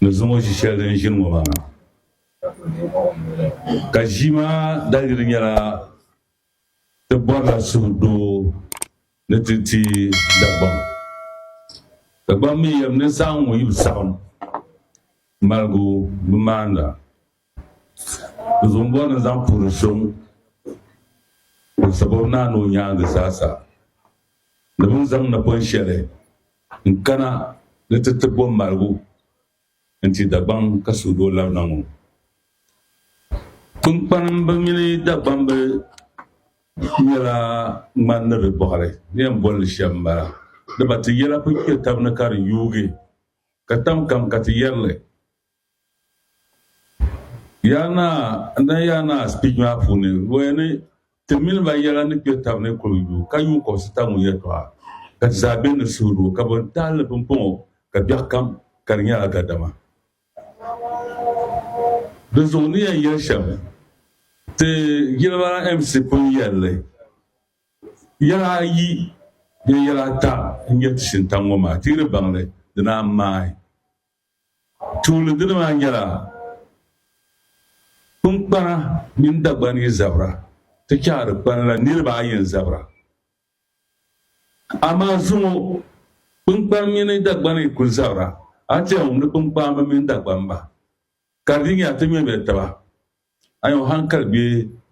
ni zaŋ o ʒi shɛli din ʒini ŋɔ maa ka ʒii maa daliri nyɛla ti bɔrila suhu doo ni ti ti Dagbaŋ Dagbaŋ mi yɛm ni zaa ŋɔ yi bi saɣim maligu bi maanda Zumbɔri ni zaŋ puri soŋ o sababu naa ni o nyaangi zaa sa ni bɛ ni zaŋ napɔn shɛli n-kana ni ti ti bo maligu n-ti Dagbaŋ ka suhud o labina ŋɔ. Kpiŋkpanimba mini Dagbamba nyɛla ŋmani ni di bɔɣiri ni yɛn boli li shɛm m-bala. Dama ti yɛla kuli kpe taba ni ka di yuugi ka tam kam ka ti yɛri li. Yaa Naa, n dani Yaa Naa speech maa puuni, luɣi ni ti mini ba yɛla ni kpe tab ni kuli yu ka yuun kɔbisi tab ŋɔ yɛtɔɣa, ka ti zaa be ni suhudoo, ka bɔ n-tahi li pumpɔŋɔ ka biɛɣu kam ka di nyɛla gadama. Dinzuɣu n ni yɛn yɛli shɛm, ti Jilibara MC pun yɛli li, yɛla ayi bee yɛla ata n-nyɛ ti shintaŋ ŋɔ maa, ti yi di baŋ li, di naan maai. Tuuli dini maa nyɛla kpiŋkpana mini Dagbani yi zabira ti chahi di kpani la niriba ayi n-zabira. Amaa zuŋɔ kpiŋkpani mini Dagbani yi kuli zabira a ti yɛn wumdi kpiŋkpamba mini Dagbanba ka di nya ti ŋmɛmiya taba. A nya o hankali be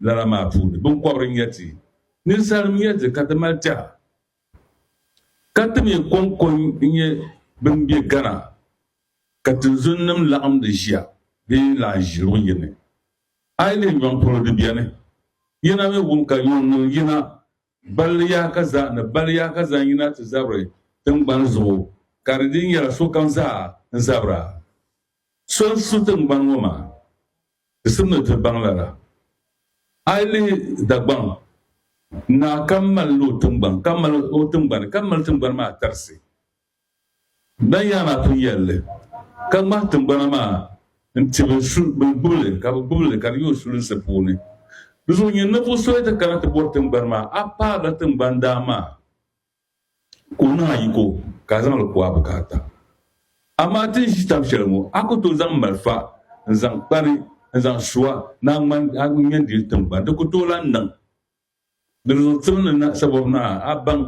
lala maa puuni. Biŋkɔbiri n-nyɛ ti. Ninsalinima n-nyɛ ti ka ti mali tɛha. Ka ti mi kɔŋko n-nyɛ bɛn be Ghana ka tinzunnim laɣimdi ʒiya bee lahi ʒi luɣ yini. Aileen nyɔŋ polo di beni. Yina mi wum ka nyɔŋ niŋ yina balli yaaka zaa ni balli yaaka zaŋ yina ti zabiri tiŋgbani zuɣu ka di dii nyɛla sokam zaa n-zabira so n-su tiŋgbani ŋɔ maa. Di sim ni di baŋ lala. A yi lihi Dagbaŋ, naa kam mali la o tiŋgbani, ka mali o tiŋgbani, ka mali tiŋgbani maa tarisi. Ban yaa maa pun yɛli li, ka ŋmahi tiŋgbana maa n-ti bɛ gbubi li, ka bɛ gbubi li, ka di yi o sulinsi puuni. Di zuɣu nyini ninvuɣ so yi ti kana ti bɔri tiŋgbani maa, a paarila tiŋgbani daa maa. Ka o niŋ a yiko ka a zaŋ li ku a bukaata. Amaa ti ni ʒi tab shɛli ŋɔ, a ku tooi zaŋ malifa n-zaŋ kpa ni n-zaŋ su a ni a ŋmani a ŋmɛn diri tiŋgbani. Di ku tooi lan niŋ ni di zaŋ tim ni na sabɔbu ni a baŋ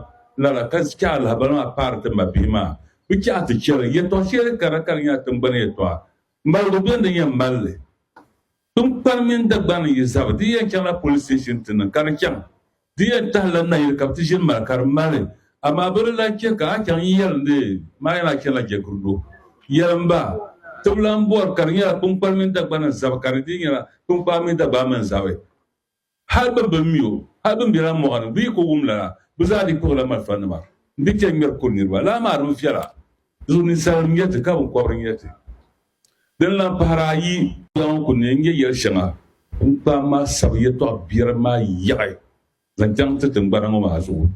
lala ka chɛ alahabali maa paari ti mabihi maa. Bɛ chɛ a ti chɛ li. Yɛtɔɣ shɛli kara ka di nyɛ a tiŋgbani yɛtɔɣa maligu bɛn di yɛn mali li. Tinkpari mini Dagbani ni yi zabi, di yɛn chaŋla police station ti niŋ ka di chaŋ. Di yɛn tahila nayili ka bɛ ti ʒini mali ka di mali, amaa bɛ di lahi chɛ ka a chaŋ n-yɛli ni maa yɛn lahi chanila jɛgirino. Yɛlim ba, ti bi lahi bɔri ka di nyɛla Tinkpari mini Dagbani n-zabi ka di dii nyɛla Tinkpari mini Dagbani mi n-zabi. Hal bɛ bɛn mi o, hal bɛn be lala mɔɣu ni, buyi ka o wum lala, bɛ zaa dii kpuɣila malifanima nti chani ŋmɛri kuri niriba. Lala maa din viɛla zuɣu ninsalinim n-nyɛ ti, ka biŋkɔbiri n-nyɛ ti. Din lan pahiri ayi. Yɛla ŋɔ kul ni n-nyɛ yɛl shɛŋa din kpaai ma sabi yɛtɔɣ biɛri maa yaɣi zaŋ chaŋ ti tiŋgbana ŋɔ maa zuɣu.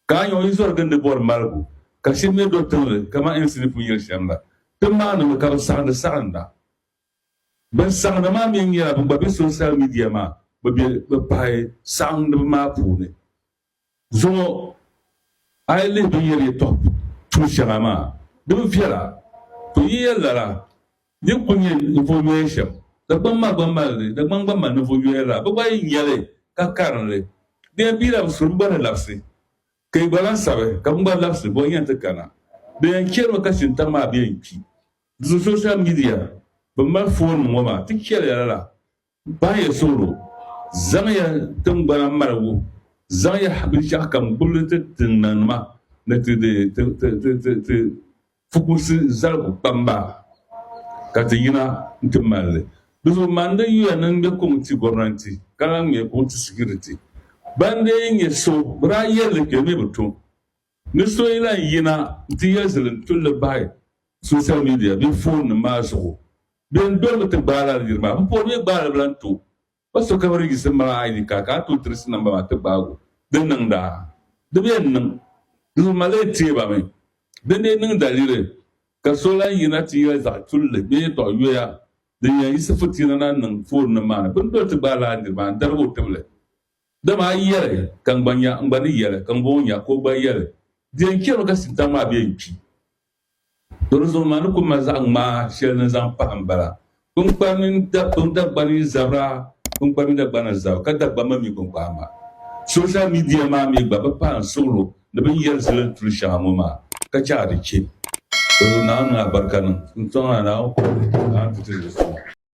Ka a nya o yi zɔri gindi bɔri maligu, ka shiri ni do tiŋli kaman Insi ni pun yɛli shɛm la, ti maanimi ka bɛ saɣindi saɣinda. Ban saɣindi maa mi nyɛla ban gba be sonsal midia maa bɛ be bɛ pahi saɣindiba maa puuni. Zuŋɔ a yi lihi bɛ yɛri yɛtɔɣ tuun shɛŋa maa, din viɛla ku yi yɛn lala din kul nyɛ ninvuɣ yoya shɛm. Dagbaŋ maa gba mali li, Dagbaŋ gba mali ninvuɣ yoya lala. Bɛ gba yi nya li ka karim li, bɛ yɛn pii la bɛ suri bɛ gba ni labisi ka yi gba lahi sabi ka bɛn gba labisi bɛ yɛn ti kana. Bɛ yɛn chɛrimi ka Shintaŋ maa bɛ yɛn kpi. Di zuɣu social media, bɛ mali foon ŋɔ maa, ti chɛliya lala, bahi ya suhuro, zaŋ ya tingbana maligu, zaŋ ya binshɛɣu kam gbibili ti ti nanima ni ti di ti fukumsi zaligu kpamba ka ti yina nti mali li. Di zuɣu Mande yuya ni ŋme kuŋ ti gomnanti ka lahi ŋme kuŋ ti security. Ban dee nyɛ so bɛ daa yɛli li kpe mi bi tu. Ni so yi lan yina nti yɛli zilim tulli bahi social media bee foon nim maa zuɣu, bɛ ni dolimi ti gbaai lala niri maa, m-pɔri mi gbaai li bi lan tooi ba so ka bi register m mala ID card ka a tooi tirisi number maa ti gbaai o. Di niŋda? Di bi yɛn niŋ. Di bi mali teei ba mi. Di ni niŋ daliri ka so lan yina ti yɛli zaɣ tulli bee yɛtɔɣ yoya din yɛn yiɣisi futiina na niŋ foon nim maa ni. Bɛ ni doli ti gbaai lala niri maa n-darigi o tibili. Dama a yi yɛli, Ka n gba nya, n gba ni yɛli, Ka ŋumbɔŋɔ nya, ka o gba yɛli, Di yɛn chɛrimi ka Shintaŋ maa bɛ yɛn kpi. Tɔ di zuɣu ni maa ni kul mali zaɣ ŋmaa shɛli ni zaŋ pahi m-bala, Kpiŋkpani mini Dagbani zabira, kpiŋkpani mini Dagbana zab, ka Dagbani ma mi kpiŋkpani ma. Social media maa mi gba bi pahi n suɣilo ni bɛ ni yɛli zilin tuli shɛŋa ŋɔ maa, ka chɛ a di chɛ. Tɔ Naawuni niŋ a barika niŋ. N Suŋ a, Naawuni kɔhiri a ni ti ti di suŋ.